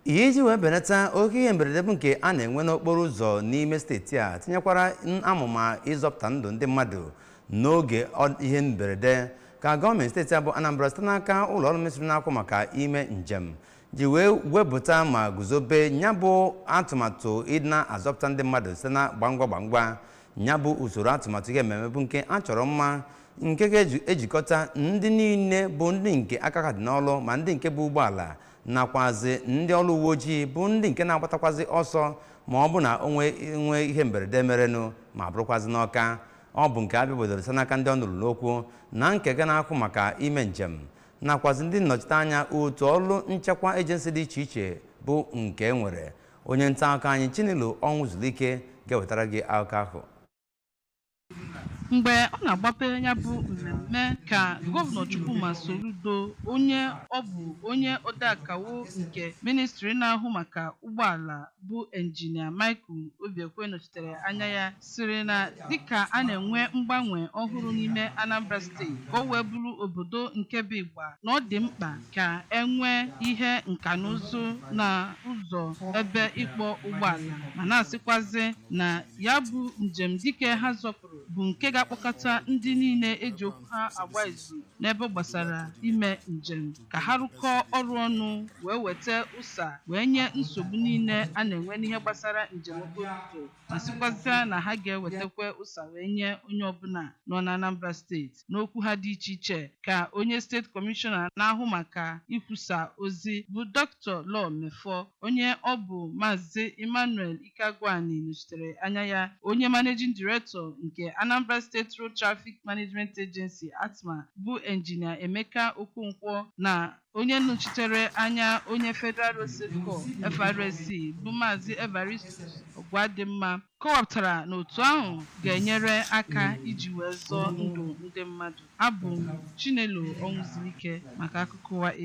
iji wee benata oke ihe mberede bụ nke a na-enwe n'okporo ụzọ n'ime steeti a tinyekwara amụma ịzọpụta ndụ ndị mmadụ n'oge ihe mberede ka gọọmenti steeti a bụ anambra site n'aka ụlọ ọrụ ministri na-ahụ maka ime njem ji wee wepụta ma guzobe nya bụ atụmatụ ịdị na-azọpụta ndị mmadụ site na gbangwa gbangwa nya bụ usoro atụmatụ ihe mmemme bụ nke a chọrọ mma nke ga-ejikọta ndị niile bụ ndị nke aka ha dị n'ọlụ ma ndị nke bụ ụgbọala nakwazi ndị ọrụ uwe ojii bụ ndị nke na-agbatakwazi ọsọ ma ọ bụ na o nwee ihe mberede merenụ ma bụrụkwazi nnọkọ bụ nke a bịabodoro site n'aka ndị ọnụ ruru n'okwu na nkega na-ahụ maka ime njem nakwazi ndị nnọchite anya otu ọrụ nchekwa ejensi dị iche iche bụ nke e nwere onye nta akụkọ anyị chinelo ọnwụzulike ga-ewetara gị akụkọ ahụ mgbe ọ na-agbape ya bụ mmemme ka gọvanọ Chukwuma Soludo onye ọ bụ onye odeakawo nke ministri na-ahụ maka ụgbọala bụ injinia Michael Obiekwe nọchitere anya ya sịrị na dịka a na-enwe mgbanwe ọhụrụ n'ime Anambra steeti ka o wee bụrụ obodo nke bụ ịgba na ọ dị mkpa ka e nwee ihe nka na ụzụ na ụzọ ebe ịkpọ ụgbọala ma na-asịkwazi na Ya bụ njem dike ha zọpụrụ bụ nke ga-akpọkọta ndị niile e ji okwu ha agba izu n'ebe gbasara ime njem ka ha rụkọọ ọrụ ọnụ wee weta ụsa wee nye nsogbu niile a na-enwe n'ihe gbasara njem okporo ụzọ ma sịkwazịa na ha ga-ewetakwa ụsa wee nye onye ọbụla nọ n'Anambra steeti N'okwu ha dị iche iche ka onye Steeti Kọmishọna na-ahụ maka ikwusa ozi bụ Doctor Law Mefor, onye ọ bụ Maazị Emmanuel Ikeagwuani nọchitere anya ya, onye Managing Director nke Anambra State Road Traffic Management Agency, ARTMA, bụ Engineer Emeka Okonkwo na onye nọchitere anya onye Federal Road Safety Corps, FRSC, bụ Maazị Evaristus Ogwadimma. kọwapụtara na otu ahụ ga-enyere aka iji wee zọọ ndụ ndị mmadụ. Abụ m Chinelo Ọnwụzulike maka akụkọ ụwa.